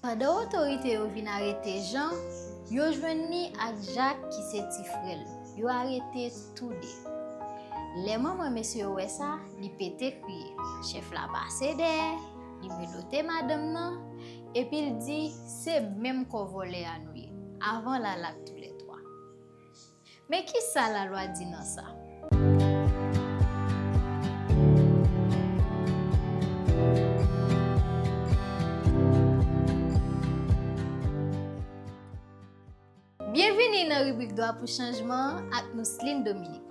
Pandan otorite yo vin arete Jan, yo jwenn li ak Jak ki se ti frè l. Yo arete tou de. Lè manman mesye yo wè sa, li pete kriye. Chèf la pase dèyè, li menote madanm nan, epi l di, Se menm kò vòlè a nou ye. Avan l al ak toulètwa. Men ki sa lalwa di nan sa? Byenvini nan ribrik Dwa pou chanjman an ak Mousseline Dominique.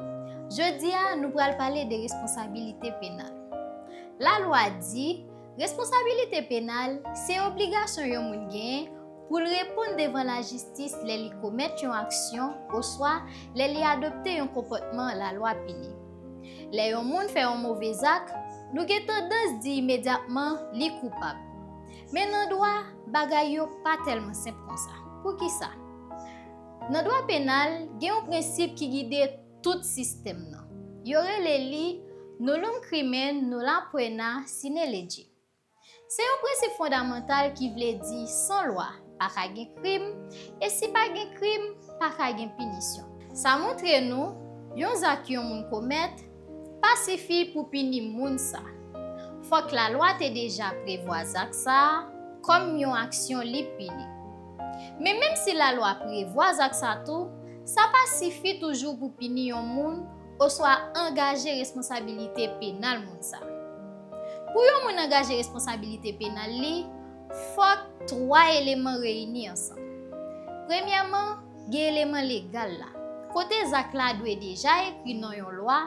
Jodi a, nou pral pale de responsabilite penal. Lalwa di, responsabilite penal se obligasyon yon moun genyen Pou l reponn devan lajistis lè li komèt yon aksyon oswa lè li adopte yon konpòtman lalwa pini. Lè yon moun fè yon move zak, nou gen tandans di imedyatman li koupab. Men nan dwa, bagay yo pa tèlman senp konsa. Poukisa? Nan dwa penal, gen yon prensip ki gide tout sistèm nan. Yo rele li, Nullum crimen nulla poena sine lege. Se yon prensip fondamantal ki vle di san lwa, pa ka gen krim, e si pa gen krim, pa ka gen pinisyon. Sa montre nou, yon zak yon moun komèt, pa sifi pou pini moun sa. Fòk lalwa te deja prevwa zak sa a, kòm yon aksyon li pini. Men menm si lalwa prevwa zak sa tou, sa pa sifi toujou pou pini yon moun, Oswa angaje responsabilite penal moun sa a. Pou yon moun angaje responsabilite penal li, fòk twa eleman reyini ansanm. Premyèman, gen eleman legal la, kote zak la dwe deja ekri nan yon lwa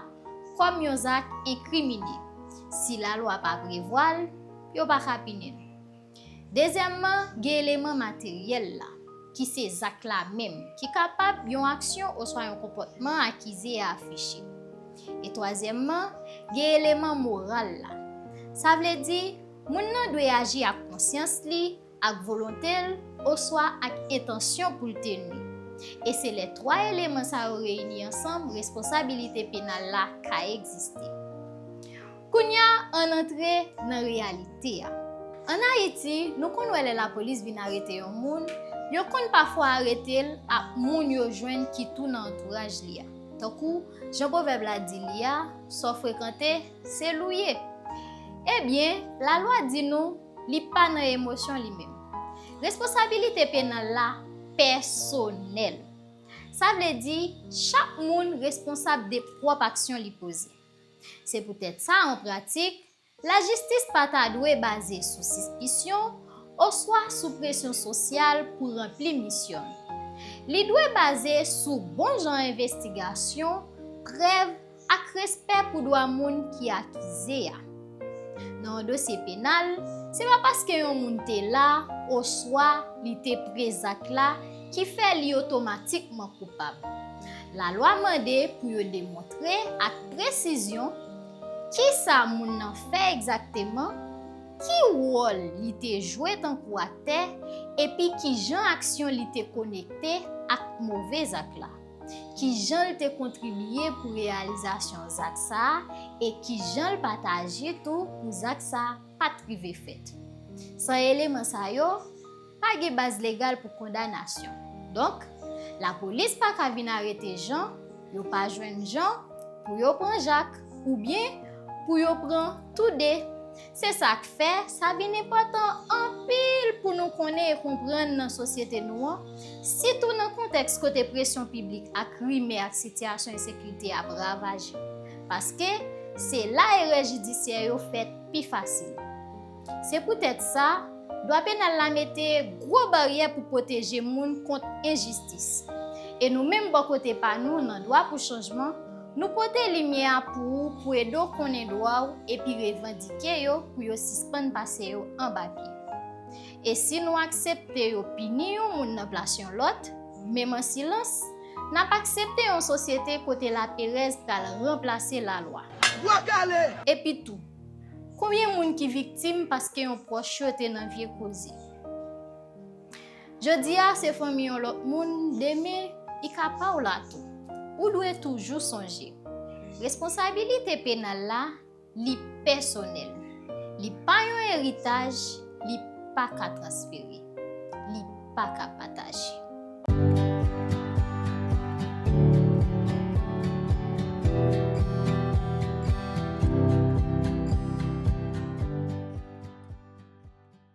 kòm yon zak enkrimine. Si lalwa pa prevwa l, yo pa ka pini l. Dezyèmman, gen eleman materyèl la, ki se zak la menm, ki kapab yon aksyon oswa yon konpòtman akize a afiche. E twazyèmman, gen eleman moral la. Sa vle di, moun nan dwe aji ak konsyans li, ak volonte l, oswa ak entansyon pou l te nui. E se lè twa eleman sa yo reyini ansanm responsabilite penal la ka egziste. Kounya ann antre nan reyalite a. Ann Ayiti, nou konn wè lè lapolis vin arete yon moun, yo konn pafwa arete l ak moun yo jwenn ki tou nan antouraj li a. Tankou jan pwovèb la di li a, sa w frekante, se l ou ye. Ebyen, lalwa di nou li pa nan emosyon li menm. Responsabilite penal la pèsonèl. Sa vle di, chak moun responsab de pwòp aksyon li poze. Se poutèt sa, an pratik, lajistis pa ta dwe baze sou sispisyon oswa sou presyon sosyal pou ranpli misyon l. Li dwe baze sou bonjan envestigasyon, prèv, ak respè pou dwa moun ki akize a. Nan yon dosye penal, se pa paske yon moun te la oswa li te pre zak la ki fè li otomatikman koupab. Lalwa mande pou yo demontre ak presizyon ki sa moun nan fè egzakteman, ki wòl li te jwe tankou aktè, epi ki jan aksyon li te konekte ak move zak la. ki jan l te kontribye pou reyalizasyon zak sa a e ki jan l pataje tou pou zak sa a pa t rive fèt. San eleman sa yo, pa gen baz legal pou kondanasyon. Donk, lapolis pa ka vin arete Jan, yo pa jwenn Jan, pou yo pran Jak, oubyen pou yo pran toude. Se sa k fè, sa vin enpòtan anpil pou nou konnen e konprann nan sosyete nou an, sitou nan kontèks kote presyon piblik ak rimè ak sitiyasyon ensekirite ap ravaje. Paske, se la erè jidisyè yo fèt pi fasil. Se poutèt sa, dwa penal la mete gwo baryè pou pwoteje moun kont enjistis. E nou menm bò kote pa nou nan Dwa pou Chanjman, Nou pote limyè a pou ou pou ede w konnen dwa w epi revandike yo pou yo sispann pase yo anba pye. E si nou aksepte yo pini yon moun nan plas yon lòt, menm an silans, n ap aksepte yon sosyete kote laperèz pral ranplase lalwa. Bwa kale! Epitou, konbyen moun ki viktim paske yon pwòch yo te nan vye koze? Jodi a se fanmi yon lòt moun, demen li ka pa w la tou. Ou dwe toujou sonje, responsabilite penal la, li pèsonèl. Li pa yon eritaj, li pa ka transfere, li pa ka pataje.